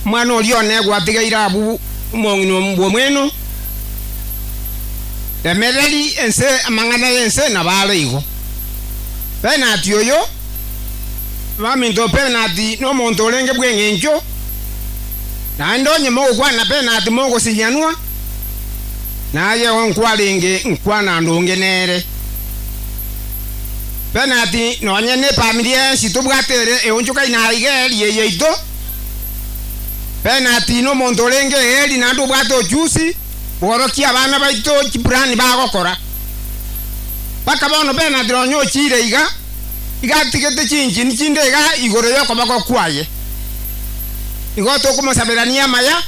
Omwana oria one gwatigaire abwo omong'ina bw'omweno, remereri ense amang'ana y'ense na baaro igo. Penati oyo, baminto penati nomonto orenge bw'engencho, naende onye mogokwana penati mogosinyanwa, naye onkwarenge nkwana ndonge nere. Bernard, Nonye nefamiri ensi tobwate ere eonchoka inaa igeri eye yaito. Bernard nomonto orenge egeri naende obwate ochusi bworokia abana baito chiplan bagokora. Mpaka bono Bernard nonye ochiire iga, iga atigete chinchini chinde iga igoro yokoboko kwaye. Igo tokomosaberania amaya.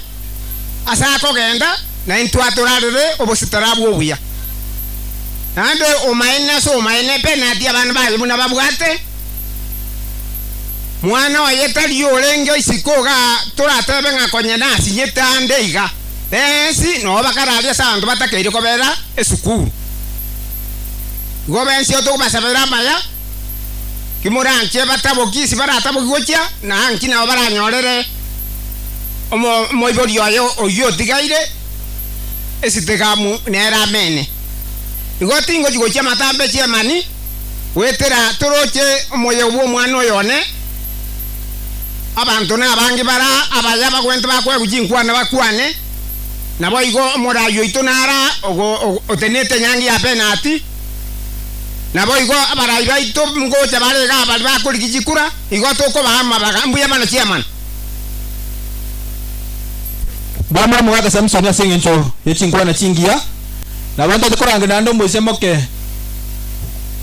as'akogenda, na intwe atorarere obositara bw'obuya. Naende omaene as'omaene penati abana baye buna babwate. Mwana oye tari orenge isiko iga toratebe ng'a konya nasinyete ande iga, bensi noo bakararia as'abanto batakeire kobera esukuru. Igo bensi otogobasabera amaya. Timoranche bataboki isi baratabokigwe gochia, na naki nao baranyorere omoibori oye oyio otigaire esitikamu nere amene. Igo tingochi gochia amatambechi emani goetera toroche omoyego bw'omwana oyo one. Abanto nabange bara abaye abagwenti bakwegwe chinkwana bakwane, naboigo omoraai oito nara otenete enyangi ya penati. Naboigo abarai baito ngocha bare iga abare bakorigia chikura, igo tokobaa amabaga, mbuya mana chiamana. Bamura mogaaka Samsoni ase engencho ye chinkwana chingiya, na bantaete korangera naende omoisia moke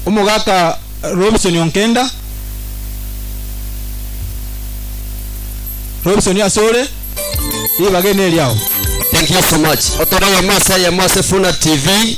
omogaaka Robisoni o nkenda, Robisoni ase ore ribaga ene eriao. Thank you so much. Otoree eyemo ase eyemo ase Funa TV.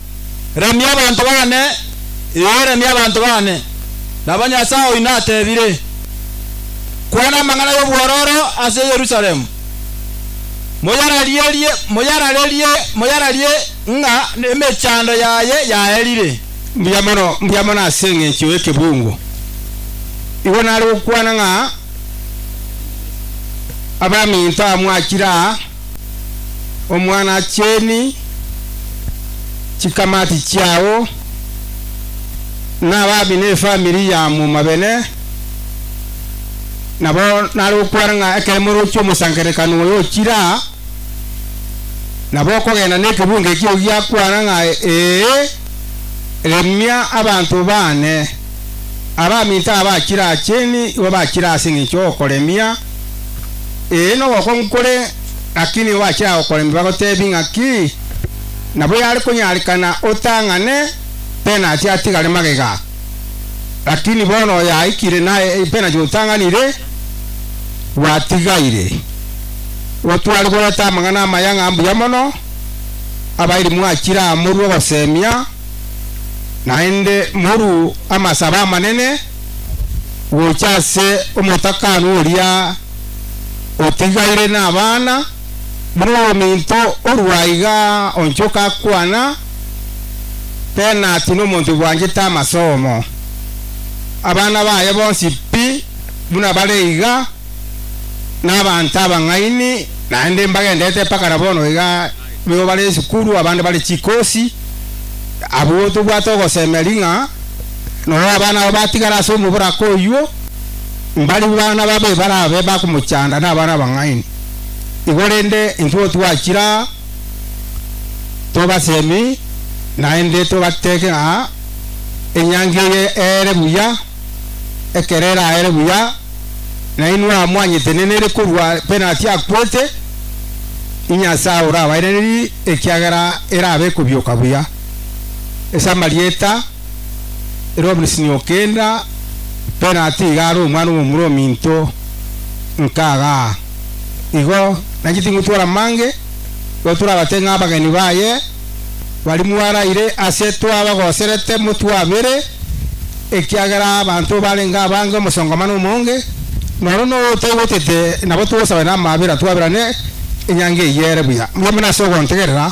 Remia abanto baane, ee, remia abanto baane, nabo Nyasae oino ateebire, Kwana amang'ana y'obwororo ase Yerusalemu, moyararierie, moyararerie, moyararie ng'a emechando yaye yaerire. Mbuya mono, mbuya mono ase engencho y'ekebungo! Igo nare gokwana ng'a abaminto aa mwachire aa. Omwanacheeni, chikamati chiao, na ababi na efamiri ya momabene, nabo nare gokwana ng'a ekero morochia omosangererekano oyo ochire aa, nabo okogenda na ekebungo ekio giakwana ng'a, Ee, remia abanto baane. Abaminto aba bachire aa cheni igo bachire ase engencho y'okoremia, Ee, nogokong'u kore, gaki nigo bachia gokorembi bagotebi ng'aki nabo yare konyarekana otang'ane penati atigare magega. Lakini bono oyaikire na epenati otang'anire, gwatigaire gotware goreta amang'ana amaya ng'a mbuya mono, abairi mwachire aa morue ogosemia, naende morue amasabo amanene. gocha ase omotakanwa oria otigaire nabana, buna omominto orua aiga onchoka akwana, Penati nomonto bwanchete amasomo. Abana baye bonsi pi buna bare iga, nabanto abang'aini, naende mbagenderete mpaka nabono iga, baibo bare esukuru, abande bare chikosi, abwo tobwate ogosemeria ng'a. Nonya abana aba batigara ase omoboraka oyio, mbaribu bana babe barabe bakomochanda na abana abang'aini. Igo rende intwe twachira aa, tobasemi, naende tobateke ng'a enyangi eye eere buya, ekero eraere buya, nainwe aa mwanyete nenere korwa penati akwete, Inyasae orabairanerie, ekiagera erabe ekobioka buya. Ase amarieta. Ere oborisini o kenda penati iga are omwana omomura ominto nkaga. Igo nainche tingotwara amange, igo torabate ng'a abageni baye baria mwaraire ase twabagoserete motwabere, ekiagera abanto barenge abange omosonkomano omonge, na oro noyo otoigotete nabo togosaba namaabera twaberane enyangi eyio ere buya. Mbwamana ase ogontegerera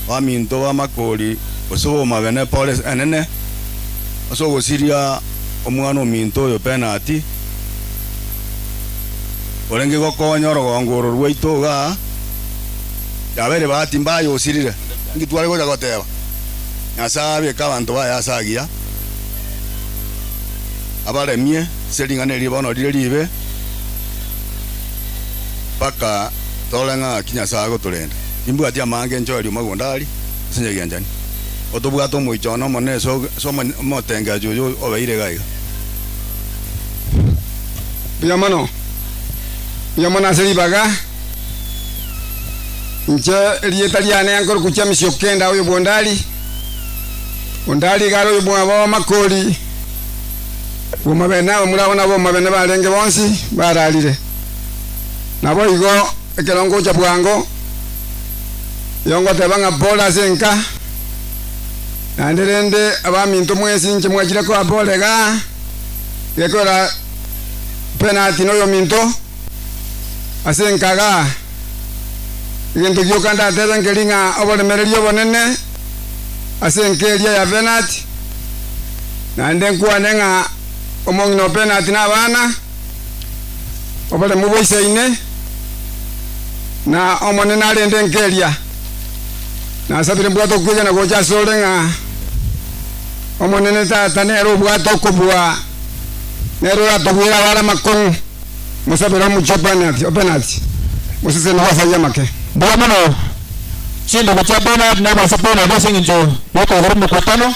Baminto b'amakori gose b'omabene pore enene ase ogosiria omwana ominto oyo penati, orenge gokonya orogongo oro rwaito iga yaba ere bahati mbaya osirire. Inki tware gocha goteba? Nyasae abeke abanto baye ase agiya, abaremie ase ring'ana erie bono rire riibe, mpaka torore ng'aki Nyasae agotorenda. Timbwati amaanga enchwa aria omagunda are ase enchera gianchani. Otobwate omoicho one omonene ase omotengecho oyo obeire iga iga. Buya mono, buya mono ase ribaga. Inche erieta riane yankore kuchia misia okenda oyo bwondari. Ondari iga are oyo bwabo amakori bwomabene abamura abana bomabene barenge bonsi bararire. Naboigo. Ekero ngocha bwango, nigo ngoteba ng'a bore ase enka, naende rende abaminto mwensi inche mwachire koa bore iga, gekorera penalty noyominto ase enka iga. Egento gioka ndatebe nkeri ng'a oboremereri obonene ase enka eria ya penalty, naende nkwane ng'a omong'ina o penalty nabana. oboremu bwa ise ine, na Omonene arende nkeria. Nasabire mbwate okwegena gocha asore ng'a Omonene Tata nere obwate okobua, nere oratobwere abare amakong'u. Mosabere omochie openati, openati, moseseni gw'asayia amake. Mbuya mono, chindobo chia openati nabase openati ase eng'encho y'okwegera omokutano.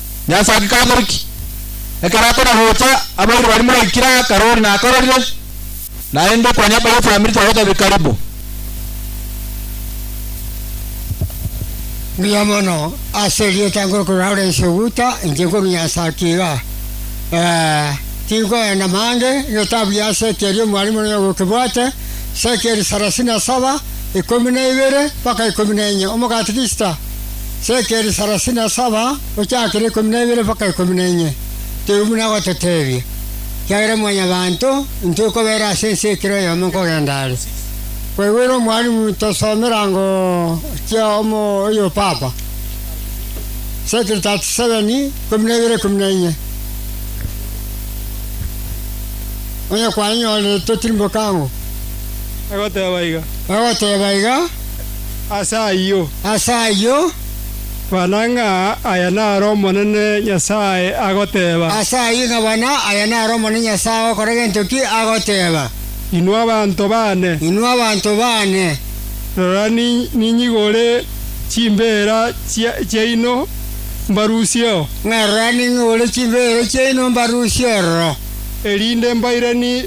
Yeso agakamorukia. Ekero akona gocha, abairi baria moraikire akarori nakororire, naende konya baria efamiri twagotebia karibu. Mbuya mono, ase erieta ngorokora ore inse oguta, inche nkorunyasa ake iga. Ee, tinkoenda mange, notabu ya seki eria omwalimu nonya gokebwate, sekeli sarasini na saba, ikomi na ibere, mpaka ikomi na enye, omogati gisita. sekeri sarasini na saba, gochakera ikomi na ibere mpaka ikomi na inye, teibo buna agototeebia, ekiagera Mwanyabaanto intwe okobeera ase ense ekero oyomo nkogenda are. Kwaigwere Omwalimu tosomera ngo chia omo oyo papa, sekeri 37, ikomi na ibere ikomi na inye, onye kwanyenyorire totirimboka ango, Agoteeba iga. Agoteeba iga. Ase ayio. Ase ayio. Bana ng'a aya naro Omonene Nyasae agoteeba. Ase ayio ng'a bana aya naro Omonene Nyasae agokora gento ki agoteeba. Inwe abanto baane. Inwe abanto baane. Rora ninyigore chimbeera chiaino mbarusie oo. Ng'a rora ning'ore chimbeera chiaino mbarusie ororo. Erinde mbairanie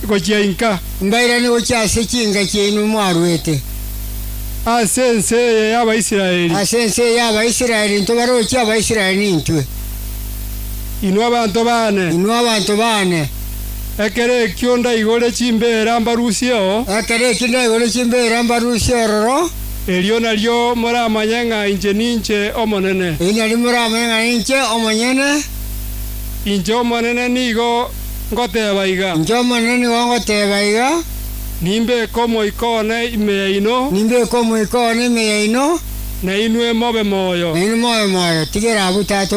gochia inka. Mbairane gochia ase chinka chiaino mwaruete. Ase ense eye y'Abaisraeli. Ase ense eye y'Abaisraeli intwe barochi, Abaisraeli nintwe. Inwe abanto baane. Inwe abanto baane. Ekero ekio ndaigore chimbeera mbarusieo. Ekero ekio ndaigore chimbeera mbarusie ororo. Erio nario moramanye ng'a inche ninche Omonene. Erio nario moramanye ng'a ninche Omonyene. Inche Omonene nigo. ngoteeba iga. Inche Omonene nigo ngoteeba iga. Nimbeke omoika one ime yaino. Nimbeke omoika one ime yaino. Na inwe mobe moyo. Na inwe mobe moyo. Tigera abwo, Tata,